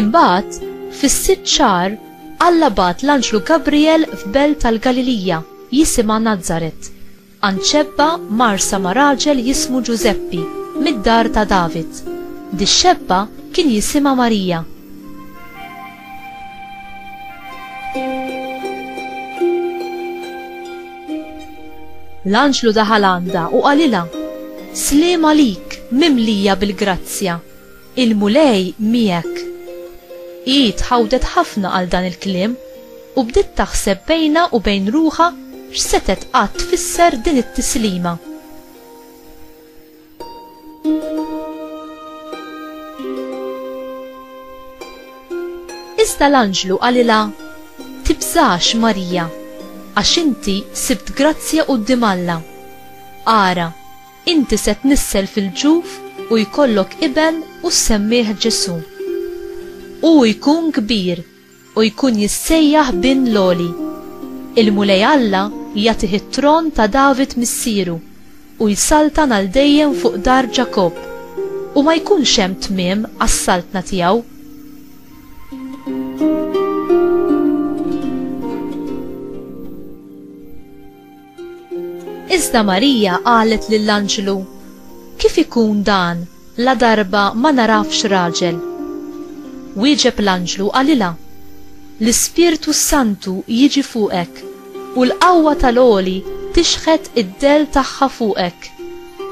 Imbagħad, fis-sitt xahar, Alla bagħat l-anġlu Gabrijel f'belt tal-Galilija jisimha Nazaret, għand xebba mgħarrsa ma' raġel jismu Ġużeppi, mid-dar ta' David. Dix-xebba kien jisimha Marija. L-anġlu daħal għandha u qalilha, Sliem għalik, mimlija bil-grazzja, il-Mulej miegħek. Hi tħawdet ħafna għal dan il-kliem u bdiet taħseb bejnha u bejn ruħha x'setgħet qatt tfisser din it-tislima. Iżda l-anġlu qalilha, Tibżax, Marija, għax inti sibt grazzja quddiem Alla. Ara, inti se tnissel fil-ġuf u jkollok iben u ssemmih Ġesù. Hu jkun kbir u jkun jissejjaħ Bin l-Għoli. Il-Mulej Alla jagħtih it-tron ta' David missieru, u jsaltan għal dejjem fuq dar Ġakobb, u ma jkunx hemm tmiem għas-saltna tiegħu. Iżda Marija qalet lill-anġlu, Kif ikun dan ladarba ma nagħrafx raġel? Wieġeb l-anġlu u qalilha, L-Ispirtu s-Santu jiġi fuqek, u l-qawwa tal-Għoli tixħet id-dell tagħha fuqek,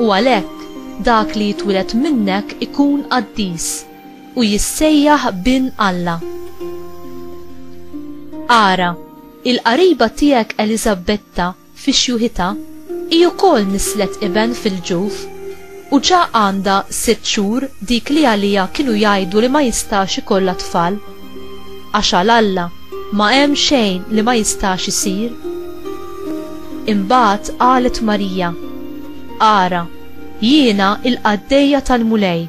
u għalhekk dak li jitwiled minnek ikun qaddis, u jissejjaħ Bin Alla. Ara! Il-qariba tiegħek Eliżabbetta fi xjuħitha hi wkoll nisslet iben fil-ġuf, u ġa għandha sitt xhur dik li għaliha kienu jgħidu li ma jistax ikollha tfal. Għax għal Alla ma hemm xejn li ma jistax isir. Imbagħad qalet Marija, Ara, jiena l-qaddejja tal-Mulej!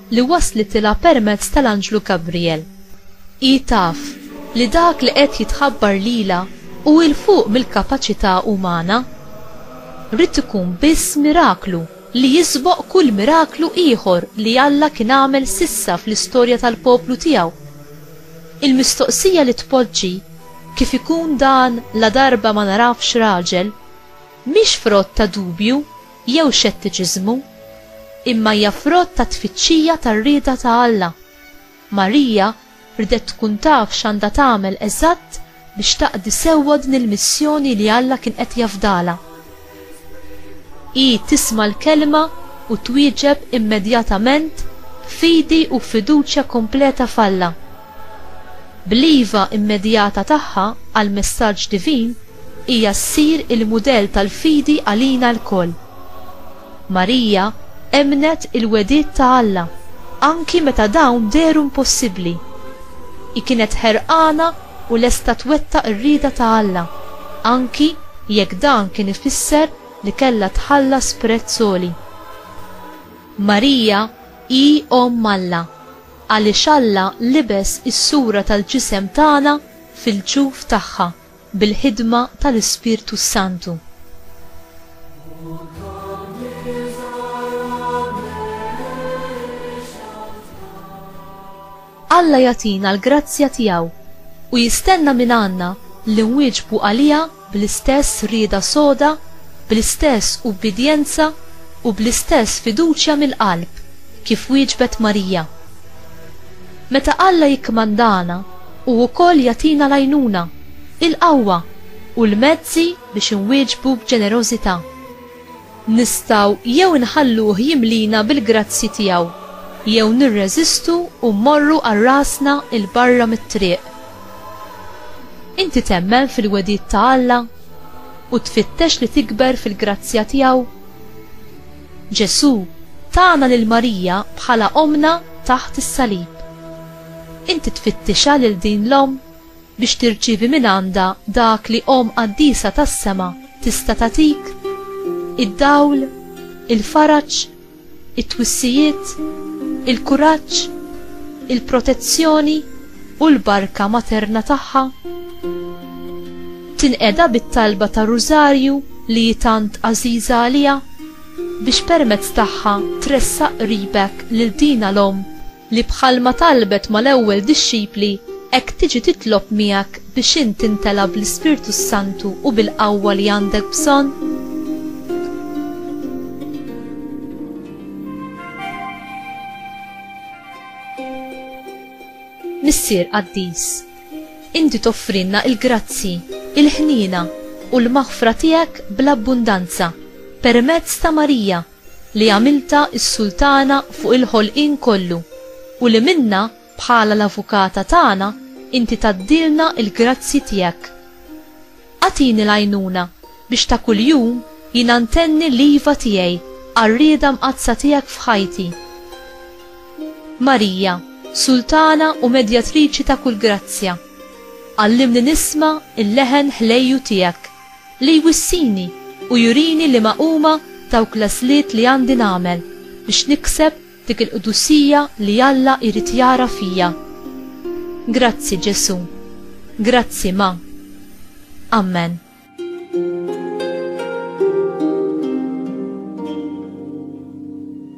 li waslitilha permezz tal-anġlu Gabrijel. Hi taf li dak li qed jitħabbar lilha hu 'l fuq mill-kapaċità umana. Ried ikun biss miraklu li jisboq kull miraklu ieħor li Alla kien għamel s'issa fl-istorja tal-poplu tiegħu. Il-mistoqsija li tpoġġi, Kif ikun dan ladarba ma narafx raġel? mhix frott ta' dubju. jew xettiċiżmu, imma hija frott ta' tfittxija tar-rieda ta' Alla. Marija riedet tkun taf x'għandha tagħmel eżatt biex taqdi sewwa din il-missjoni li Alla kien qed jafdalha. Hi tisma' l-Kelma u twieġeb immedjatament b'fidi u b'fiduċja kompleta f'Alla. Bl-iva immedjata tagħha għall-messaġġ divin, hija ssir il-mudell tal-fidi għalina lkoll. Marija emmnet il-wegħdiet ta' Alla anki meta dawn dehru impossibbli. Hi kienet ħerqana u lesta twettaq ir-rieda ta' Alla, anki jekk dan kien ifisser li kellha tħallas prezz għoli. Marija hi Omm Alla. Għaliex Alla libes is-sura tal-ġisem tagħna fil-ġuf tagħha bil-ħidma tal-Ispirtu s-Santu. Alla jagħtina l-grazzja tiegħu u jistenna mingħandna li nwieġbu għaliha bl-istess rieda soda, bl-istess ubbidjenza u bl-istess fiduċja mill-qalb kif wieġbet Marija. Meta Alla jikkmandana, hu wkoll jagħtina l-għajnuna, il-qawwa u l-mezzi biex inwieġbu b'ġenerożità. Nistgħu jew inħalluh jimlina bil-grazzji tiegħu, jew nirreżistu u mmorru għal rasna 'l barra mit-triq. Inti temmen fil-wegħdiet ta' Alla u tfittex li tikber fil-grazzja tiegħu? Ġesù tana lil Marija bħala ommna taħt is-salib. Inti tfittixha lil din l-omm? biex tirċievi mingħandha dak li Omm Qaddisa tas-sema tista' tagħtik, id-dawl, il-faraġ, it-twissijiet, il-kuraġġ, il-protezzjoni u l-barka materna tagħha. Tinqeda bit-talba tar-Rużarju li hi tant għażiża għaliha, biex permezz tagħha tressaq qribek lil dina l-Omm. li bħalma talbet mal-ewwel dixxipli, hekk tiġi titlob miegħek biex int timtela bl-Ispirtu s-Santu u bil-qawwa li għandek bżonn? Missier qaddis, inti toffrilna l-grazzji, il-ħniena, u l-maħfra tiegħek bl-abbundanza, permezz ta' Marija, li għamiltha s-Sultana fuq il-ħolqien kollu u li minnha bħala l-Avukata tagħna inti tgħaddilna l-grazzji tiegħek. Agħtini l-għajnuna biex ta' kuljum jiena ntenni l-iva tiegħi għar-rieda mqaddsa tiegħek f'ħajti. Marija, Sultana u Medjatriċi ta' kull grazzja, għallimni nisma' l-leħen ħlejju tiegħek. Li jwissini u jurini liema huma dawk l-għażliet li għandi nagħmel biex nikseb dik il-qdusija li Alla jrid jara fija. Grazzi, Ġesù. Grazzi, Ma. Ammen.